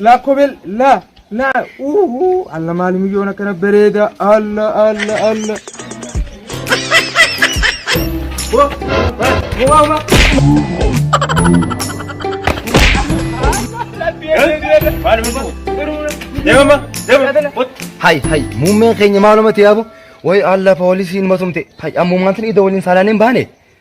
Laakobel la la uhu alla maali miyyoon akkana bareeda alla alla alla. Hay hay muummeen keenya maalumatti yaabu way alla poolisiin matumte hay ammumaantin ida waliin saalaan hin baane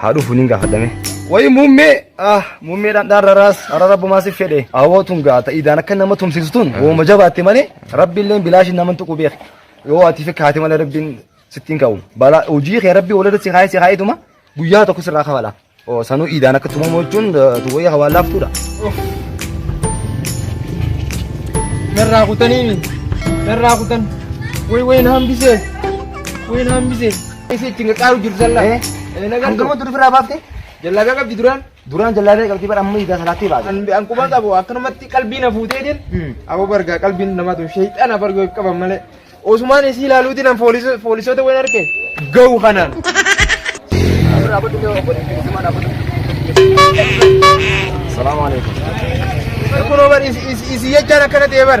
haa dhufu nin gaafadhame. Wayi muummee ah muummee dhandhaan raraas hara rabbumaa si fedhe awoo tun gaata idaan akka nama tumsiisu tun wooma jabaatte malee rabbiilleen bilaashin naman tuqu beek yoo ati fi kaate malee rabbiin sittiin ka'u balaa hojii kee rabbii walirra si kaa'ee si kaa'eetuma guyyaa tokko sirraa kafala oo sanuu idaan akka tumamu jechuun tuwayya hawaan laaftuudha. Narraa kutanii narraa kutan wayi wayi na hambisee wayi na hambisee. Isi itti qaqqaaru jirtu sallaa. Eh? Eh, nagaa Kan gamoo turu biraa baafte? Jallaagaa qabdi duraan. Duraan jallaabee qabdi bara amma idaa salaatti baate. An an quba qabu akkanumatti qalbii na fuuteetiin. Hmm. Aboo bargaa qalbiin nama tun sheexana bargoo if qaban malee. Osumaan isii ilaaluutiin an fooliso- foolisoota wayin arge. Gahu kanaan. Salaamu alaikum. Kunoo bar isi- isi- isi jechaan akkana ta'e bar.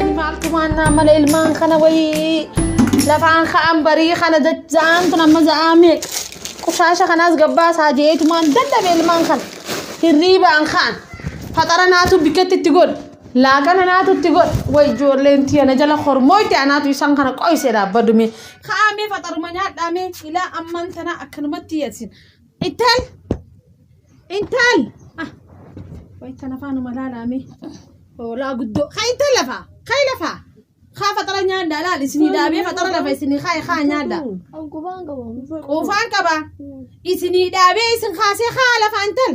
Ani maaltu maannaa mala ilmaan kana wayii lafaan ka'an barii kana dacha'aan tun amma za'aa meeq qushaasha kanaas gabbaasaa jeetu maan dadhabe ilmaan kana hirriibaan ka'an faxara naatu bikkatti itti godhe laaqana naatu itti godhe way ijoolleen tiya na jala hormoo itti anaatu isaan kana qoyse dhaabbadume ka'amee faxaruma nyaadhaamee ilaa ammaan tanaa akkanumatti yadsin Intal! Intal! Ah, way kan afaanuma laalaame. Hoolaa guddoo. Ka intal lafa! Ka lafa! Kaa faxara nyaadda laal isinii dhaabee faxara lafa isinii kaa kaa nyaadda. Quufaan qaba. Isinii dhaabee isin kaasee kaa lafa intal.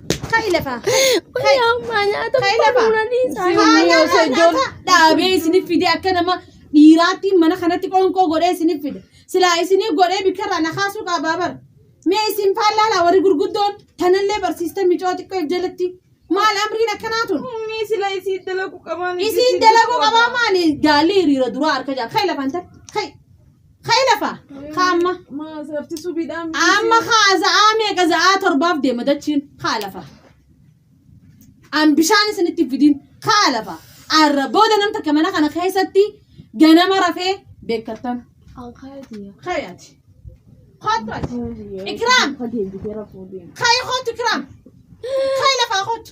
dhaabee isiniif fide akka nama dhiiraatti mana kanatti qoonqoo godhee isiniif fide silaa isiniif godhee bikkarraa na kaasuu qabaa bar mee isin faallaalaa warri gurguddoon tanallee barsiista micoo xiqqoo jalatti maal amriin akkanaa tun Ummii sila isiin dalaguu qabaan. isiin dalaguu qabaa maali gaalli hiriira duraa harka jaa kai lafanta kai Ka'e lafa. Ka amma. Maasarti subiidhaan. Amma kaa za'aa meeqa za'aa torbaaf deema dachiin kaa lafa. An bishaan isinitti fidiin kaa lafa. Arra booda nam takka mana kana keessatti ganama rafee beekkattan. Kayaati. Kottu ati. Ikraam. Kayi kottu ikraam. Kayi lafaa kottu.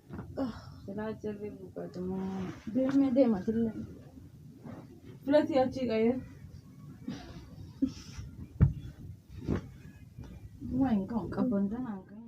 Silaa jirri buqqatuu. Deemee deema sillee. Fulatii achii qayee. Waan hin qabu qabban tanaan qabu.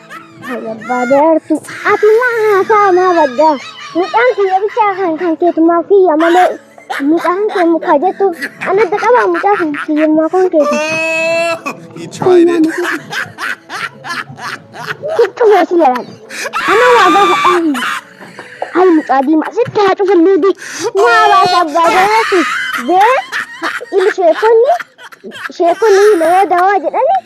Barbaadaartu ati maa haasaa maa baddaa mucaan kiyya bichaa kan kan keetumaa kiyya malee mucaan kee mukaa jettu ana adda qabaa mucaa kan kiyyummaa kan keetu. He tried it. Kittu meesii yalaan ana waa gaafa dhaabni hayi mucaa diimaa sitti haa cufallee dee maa baasa abbaa garaatu dee ilmi sheekonni sheekonni himayaa dawaa jedhani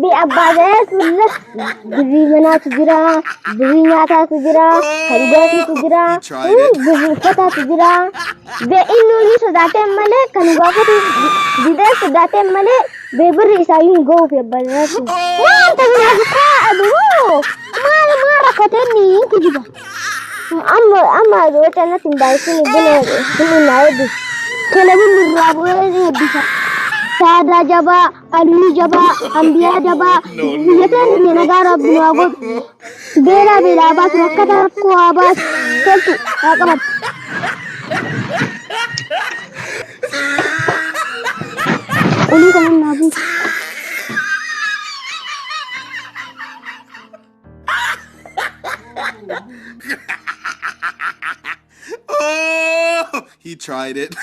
Bi abbaa gadaa tulla birrii manaatu jira, birrii nyaataatu jira, kan dhugaatiitu jira, birrii uffataatu jira. Be inni olii sodaateen malee kan gaafatu didee sodaateen malee be birri isaayyuu hin ga'uuf abbaa gadaa sun. Maal ta'inaa bitaa aduu maal maal rakkatee ni hin kijiba. Amma amma wata natti hin baay'isin buna hin hin naa eebbisu. Kana bunni irraa bu'ee eebbisa. Saadaa jabaa. Qalbii jabaa, ambiyaa dabaa, biyya teenya nagaa rabbi nu haa godhu. Beelaa beelaa haa baasu, rakkata rakkoo haa baasu, toltu haa qabatu. Olii kanan naa buusu. Oh, he tried it.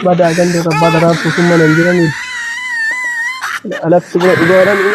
Badaa ganda irra badaa raabsuu sun mana hin jiranii. Alatti bira dhugaa jedhanii.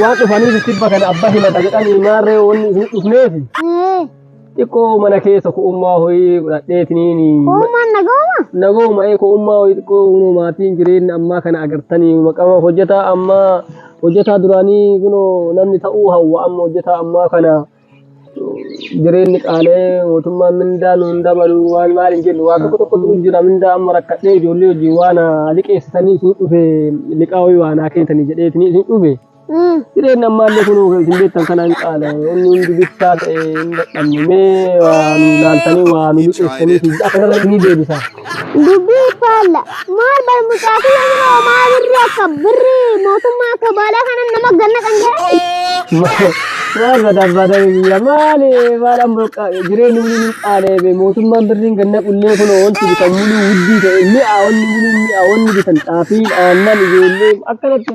Waan dhufaniif itti bakka abba himata jedhanii maarree wanni isin dhufneef xiqqoo mana keessa ku'ummaa ho'ii godhadheetiniini. Uumaan nagooma? Nagooma ee ku'ummaa ho'ii xiqqoo kunoo maatiin jireenya ammaa kana agartanii maqama hojjetaa ammaa hojjetaa duraanii kunoo namni ta'uu hawwa amma hojjetaa ammaa kana. jireenyi qaalee mootummaan mindaa nuun dabalu waan maal hin jennu waa tokko tokkotu jira mindaa amma rakkadhee ijoollee hojii waan liqeessitanii isin dhufe liqaa wayii waan haa kennitanii jedhee isin isin dhufe jireenyi ammaallee kun isin beektan kana hin qaale inni hundi bittaa ta'e hin dadhabne mee waa nu laaltanii waa nu liqeessitanii isin akkanarra isinii deebisa. Dubbii faalla. Maal bar mucaa kiyya bira homaa birri akka birri mootummaa akka baalaa kana nama ganna kan jedhe. Maal badabbada biyya maali maadhaan burqa jireenyi waliin hin qaaleebe mootummaan birriin ganna qullee kun wanti bitan muluu wuddii ta'e mi'a wanni muluu mi'a wanni bitan xaafiin aannan ijoollee akkanatti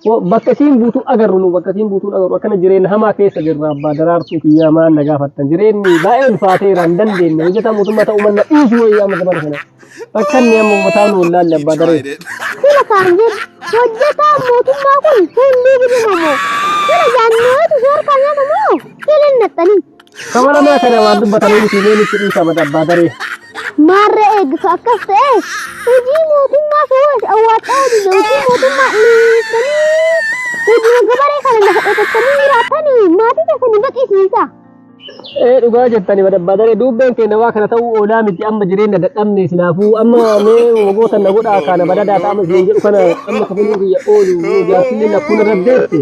Wo- Bakka isiin buutuu agarru nu bakka isiin buutuun agarru akkana jireenya hamaa keessa jirra abbaa daraartuu kiyyaa maan na gaafattan jireenyi baay'ee ulfaateera hin dandeenye hojjetaa mootummaa ta'uu manna dhiisu wayii amma zamana kana akka inni amma uummataa nu wallaalle abbaa daree. Sila kaan jedhu hojjetaan mootummaa kun hunduu gudunamo. Sila jaannootu soorkaa nyaatamoo sila hin naxxanii. Kabaranaa kana waan dubbatanii miti mee nutti dhiisa bada abbaa daree. Maarra eegdu akkas ta'e hojii mootummaa sowaas awwaadhaa hojii hojii mootummaa dhiisanii hojii gabaree kana lafa qotattanii jiraatanii maatii keessanii baqisiisa. Ee dhugaa jettani bada abbaa daree duubbeen keenya waa kana ta'uu oolaa miti amma jireenya dadhabne sinaafuu amma mee wagoota na godhaa kana badadaa ta'ama isin jedhu kana amma kafaluu biyya oolu jaarsillee lakkuun irra deesse.